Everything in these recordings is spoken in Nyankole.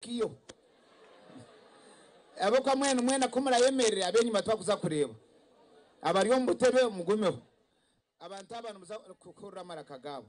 Kiyo. Ahabw'okuba mwena mwena ku murayemerera, ab'enyima tibakuza kureeba. Abari omu butebe mugumeho. Abantu aba nimuza kuhurira amaraka gaabo.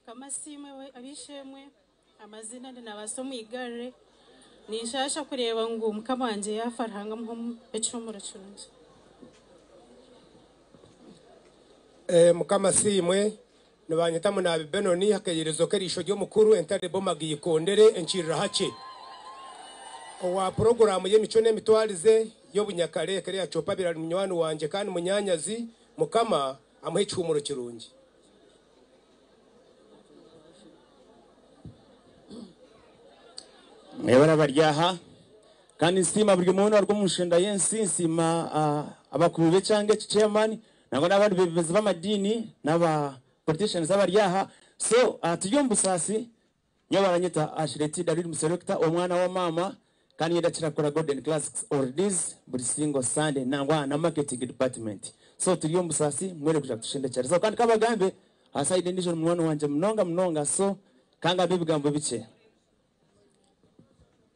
Mukama asiimwe ab'eishe-emwe. Amazina ndi Nabaasa Omwigarire. Ninshaasha kureeba ngu mukama wangye yaafa Ruhanga amuhe omu ekihumuro kirungi. Mukama asiimwe. Nibanyeta Munaabi Benoni Akairezo k'eriisho ry'omukuru Entale Bomaga Ikondere Enkirira-hakye. Owa puroguraamu y'emicwe n'emitwarize y'obunyakare Ekero ya Copa Birari Munywani wangye kandi munyaanyazi. Mukama. Amuhe ekihumuro kirungi. Mwebare abari aha. Kandi nsiima buri omwe weena owaruga omu nshenda y'ensi. Nsiima abakuru b'ekyanga eki, chairman, nangwa n'abandi beebembezi b'amadiini n'aba politicians abari aha. So turi omu busaasi. Nyowe baranyeta Ashleti David Muserekita omwana wa maama kandi ninyenda kukira kukora Golden Classics Oldies buri single Sunday nangwa aha na marketing department so turi omu busaasi mwine kugira kutushendekyerezaho kandi kabagambe aha side endijo ori munywani wangye munonga munonga so kangambe ebigambo bikye.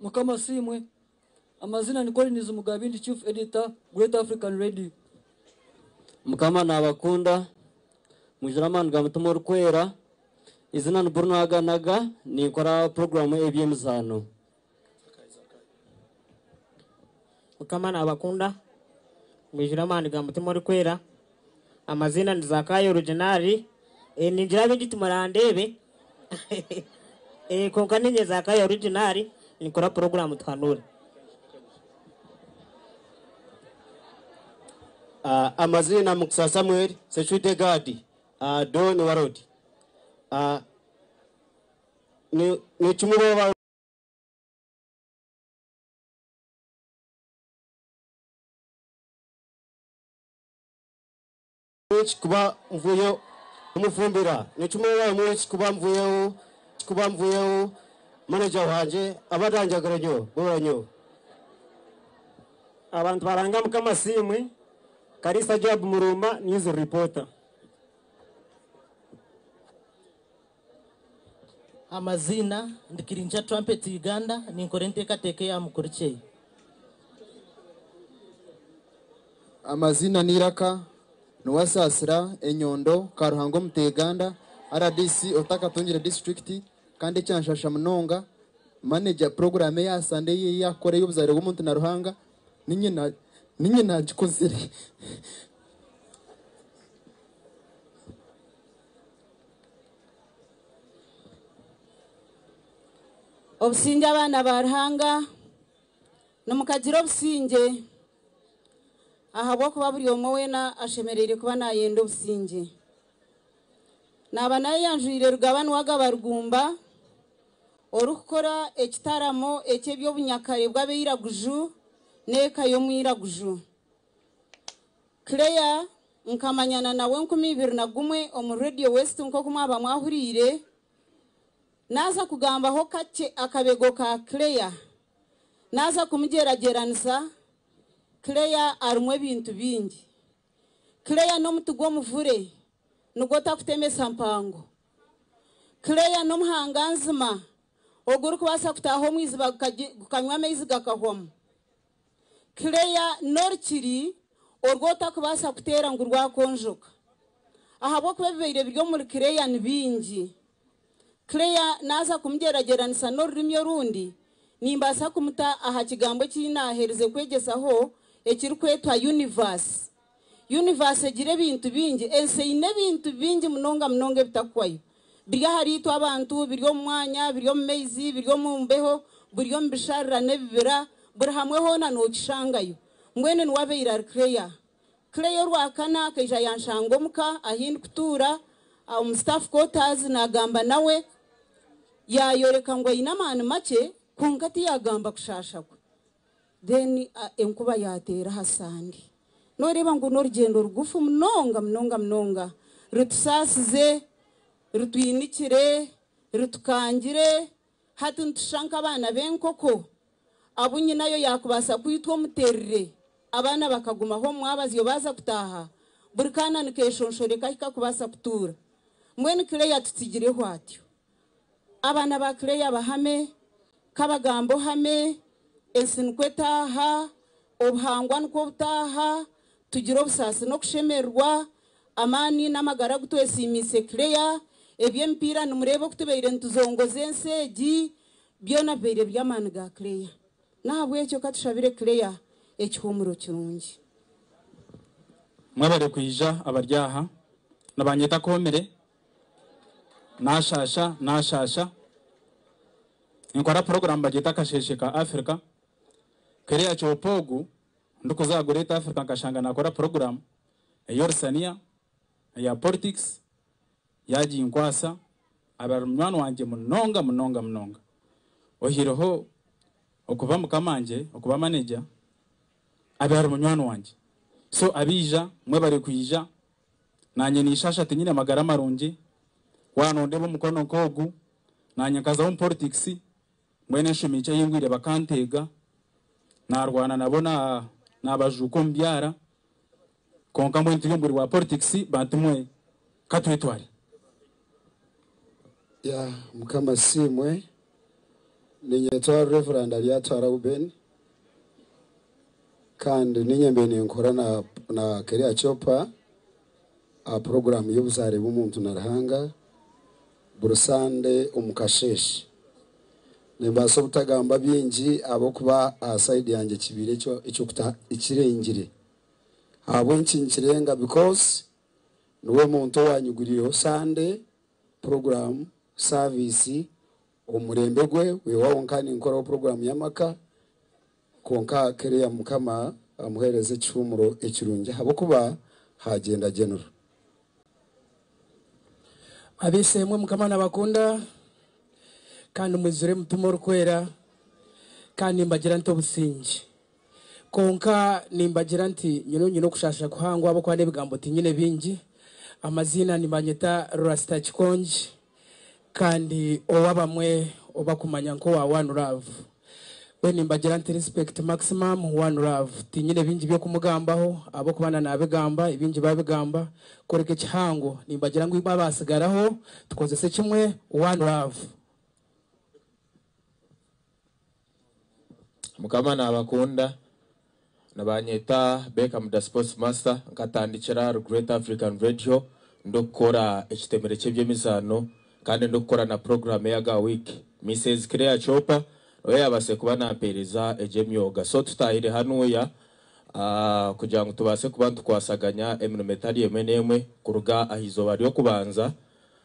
Mukama asiimwe. Amazina ni Collins Mugabi ndi Chief Editor Great African Radio. Mukama nabakunda mwijure amaani ga mutima orikwera izina ni Bruno Aganaga ninkora program ebyemizaano. Mukama nabakunda mwijure amaani ga mutima orikwera. Amaziina ni Zakayo orujunari eh ningira abingi timurandeebe eh kwonka ninye Zakayo orujunari ninkora puroguramu tuhanuure. Ah Amaziina Mukisa Samuel Seshwide Gad ah Don Warod ah ni nikimwe oba ba. Eki kuba mvuyeho kumufumbira ni kimwe bamwe eki kuba mvuyeho eki kuba mvuyeho manager wangye aba aranjagura nyo bora nyo. Abantu baranga mukama siimwe Kariisa Joab Murumba news reporter. Amaziina, Ndi Kirinkya Trumpet Uganda, ninkora enteekateeka eya Mukurikye. Amaziina n'eiraka, Nuwasaasira Enyondo, Karuhanga Omuteeganda, rdc otakatungire disiturikiti kandi ekyanshasha munonga, Manager puroguraamu eya Sunday ei yaakukora ey'obuzaare bw'omuntu na Ruhanga, niinye naagikozire. Obusingye abaana ba Ruhanga, nimukagire obusingye ahabw'okuba buri omwe weena ashemereire kuba naayenda obusingye. Naaba nayeyanjwire Rugaba niwagaba Rugumba orikukora ekitaramo eky'eby'obunyakare bw'abeiraguju n'eka y'omwiraguju. Claire, Nkamanyana nawe enkumi ibiri na gumwe omuri Radio West nk'oku mwaba mwahuriire. Naaza kugambaho kakye akabego ka Claire. Naaza kumugyeragyeranisa, Claire arimu ebintu bingi. Claire n'omuti gw'omuvure nigwo takutemesa mpango. Claire n'omuhanganzima ogurikubaasa kutaaha omu iziba gukanywa amaizi gakahwamu. Claire Norkiri oru otakubaasa kuteera ngu rwakonjoka ahabw'okuba ebibaire biri omuri Claire ni bingi. Claire naaza kumugyeragyeranisa n'orurimi orundi, nimbaasa kumuta aha kigambo eki naaherize kwegyesaho ekirikwetwa Universe Yunivaasi egira ebintu bingi. Ensi eine ebintu bingi munonga munonga ebitakuhwayo. Biri ahariitwe abantu, biri omu mwanya, biri omu maizi, biri omu mbeho, buri omu bisharira n'ebibira, buri hamwe hoona nookishangayo. Mbwenu niwe abaire ari Claire. Claire orwakana akaija yanshanga omu ka ahi ndikutuura, omu staff quarters, naagamba nawe. Yaayoreka ngu aine amaani makye, kwonka tiyaagamba kushaasha kwe. then enkuba yateera aha sande noreeba ngu norugyendo rugufu munonga munonga munonga rutusaasize rutwinikire rutukangire hati nitushusha nk'abaana b'enkoko abu nyinayo yakubaasa kwitwa omuterire abaana bakagumaho omu mwabazyo baaza kutaaha buri kaana nikeshonshoreka ahi kakubaasa kutuura mbwenu Claire tutsigireho atyo. Abaana ba Claire Bahame, Kabagamba Ohame, Ensi nikwo etaaha, Obuhangwa nikwo obutaaha, Tugire obusaasi n'okushemererwa, Amaani n'amagara agu twesiimiise Claire, Eby'emipiira nimureeba oku tubaire nituzongoza ensi egi, byona bibaire biri amaani ga Claire. N'ahabw'ekyo ka tushabire Claire ekihuumuro kirungi. Mwebare kwija abari aha. Nibanyeta Komire. Naashaasha, naashaasha. Ninkora puroguraamu bagyeta Akasheeshe ka Afrika. Kereya kyopa ogu ndikuza aha Great Afrika nkashanga naakora puroguraamu ey'orusaniya, eya politics, yaaginkwasa. Aba ari munywani wangye munonga munonga munonga. Ohireho okuba mukamangye, okuba manager, abe ari munywani wangye. So abaija, mwebare kwija. Naanye ninshaasha tinyine magara marungi, waaba noondeeba omukono nk'ogu, naanye nkaza omu poritikisi, mbwenu enshumi nkye ei ngwire bakanteega, naarwana nabo naabajuuka omu byara, kwonka mbwenu turi omu buri bwa poritikisi, bantumwe ka twetware. Ya mukama asiimwe ninyetwa Reverend Abyatwara Reuben kandi ninye mbaire ninkora na na Keria Chopa aha puroguraamu y'obuzaare bw'omuntu na Ruhanga buri sande omu kasheeshe. Nimbaasa obutagamba bingi ahabw'okuba aha sayidi yangye kibaire eky'okuta ekirengire ahabw'enki nikirenga bikoozi Niwe muntu owaanyigurireho Sande puroguraamu, saaviisi, omu murembe gwe. Kwihaho nkaba ninkoraho puroguraamu y'amaka, kwonka kiriya Mukama amuheereze ekishuumuro ekirungi ahabw'okuba haagyenda Genero. Ab'eishe-emwe, Mukama naabakunda kandi mwijure mutima orikwera, kandi nimbagira nti obusingye. Kwonka nimbagira nti, Nyowe nyine okushaasha kuhangwa ahabw'okuba n'ebigambo tinyine bingi. Amaziina nibanyeta Rasta Kikongi kandi ou abamwe bakumanya nk'owa One Love. Mbwenu nimbagira nti, Respect Maximum One Love. Tinyine bingi by'okumugambaho ahabw'okuba na naabigamba ebingi baabigamba kworeka ekihango. Nimbagira ngu itwe abaatsigaraho tukozese kimwe One Love. Mukama nabakunda. Nibanyeta Beckham Da Sports Master. Nkatandikira ahari Great African Radio ndikukora ekitemere ky'eby'emizaano kandi ndikukora na puroguramu eya Ga Week. Mises Claire Chopa niwe yaabaasire kuba naampeereza egyo emyoga. So tutaahire hanuuya kugira ngu tubaase kuba nitukwasaganya emirimo etari emwe n'emwe kuruga aha izooba ry'okubanza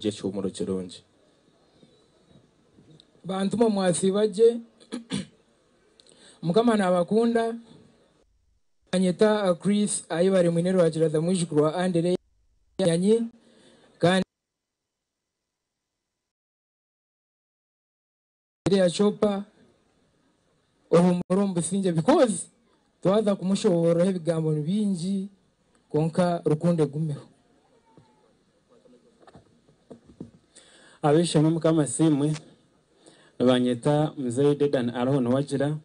Gye ekihumuro kirungi. Bantu mwe mwasiiba gye. Mukama naabakunda. Banyeta Chris Ayebare Mwine Rwakiraza mwijukuru wa Andereya Nyanyi kandi. Maria Chopper ohumura omu busingye because twaza kumushoboororaho ebigambo ni bingi kwonka rukundo egumeho. Ab'eishe-emwe Mukama asiimwe. Nibanyeta Muzeeyi Dedan Ariho Niwagira.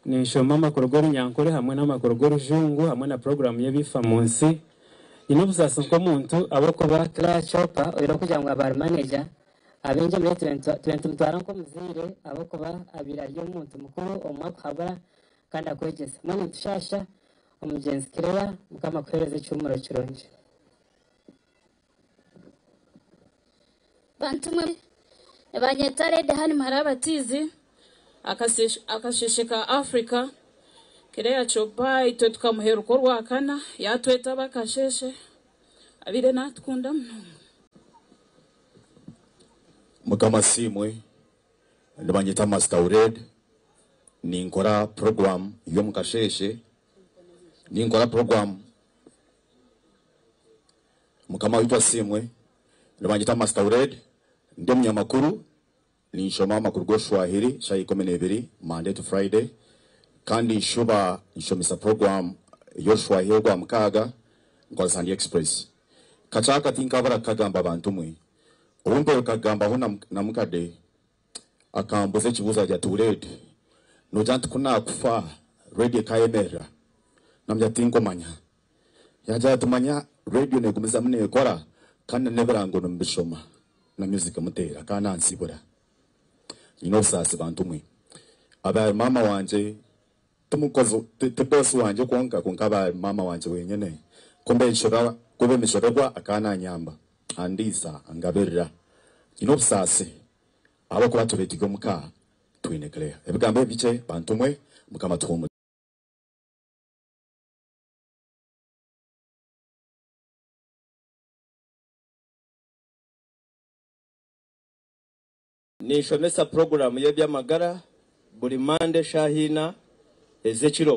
Ninshoma amakuru g'Orunyankore hamwe n'amakuru g'Orujungu hamwe na puroguraamu y'ebifa mu nsi. Nyine obusaasi nk'omuntu ahabw'okuba. Claire Chopper oine okugira ngu abaari maneja. Abaingi omuri itwe nitubatwara nk'omuzaire ahabw'okuba abaire ari omuntu mukuru omu mwaka ohabura kandi akwegyesa. Mbwenu nitushaasha omugyenzi Claire. Mukama akuheereze ekihumuro kirungi. Bantu mwe, nibanyeta Lady Hanne Muhara Abatiizi, Akasheeshe ka Africa. Claire Choppa itwe tukamuheruka orwakana, yaatwetaba akasheeshe. Abaire naatukunda munonga. Mukama asiimwe, nibanyeta Master Ured, ninkora puroguramu y'omu kasheeshe, ninkora puroguramu, Mukama waitu asiimwe, nibanyeta Master Ured, ndi omunyamakuru Ninshoma amakuru g'oruswahiri shaaha ikumi n'eibiri Monday to Friday kandi nshuba nshomesa puroguramu y'oruswahiri orwa mukaaga nkozesa AliExpress. Kakyaka tinkabura kukagamba bantu mwe. Obu mpaire kukagambaho na mukade akambuza ekibuuzo ati, Ati Uled, noogira nti ku naakufa reediyo ekaayemerera? Namugira nti tinkumanya. Yaagira ati, Manya reediyo neegumizamu neekora kandi na n'ebirango nimubishoma na myuziki muteera kandi nansiibura. Nyine obusaasi bantu mwe. Abaari maama wangye ti mukozi ti boosi wangye kwonka kwonka abaari maama wangye wenyine ku mbeeshura ku b'emishoberwa akaba nanyamba, andiisa, angabirira. Nyine obusaasi ahabw'okuba tureetirwe omu ka twine Claire. Ebigambo ebi bikye bantu mwe. Mukama atuhuumurize. Ninshomesa puroguraamu y'eby'amagara buri Mande eshaaha ina ez'ekiro.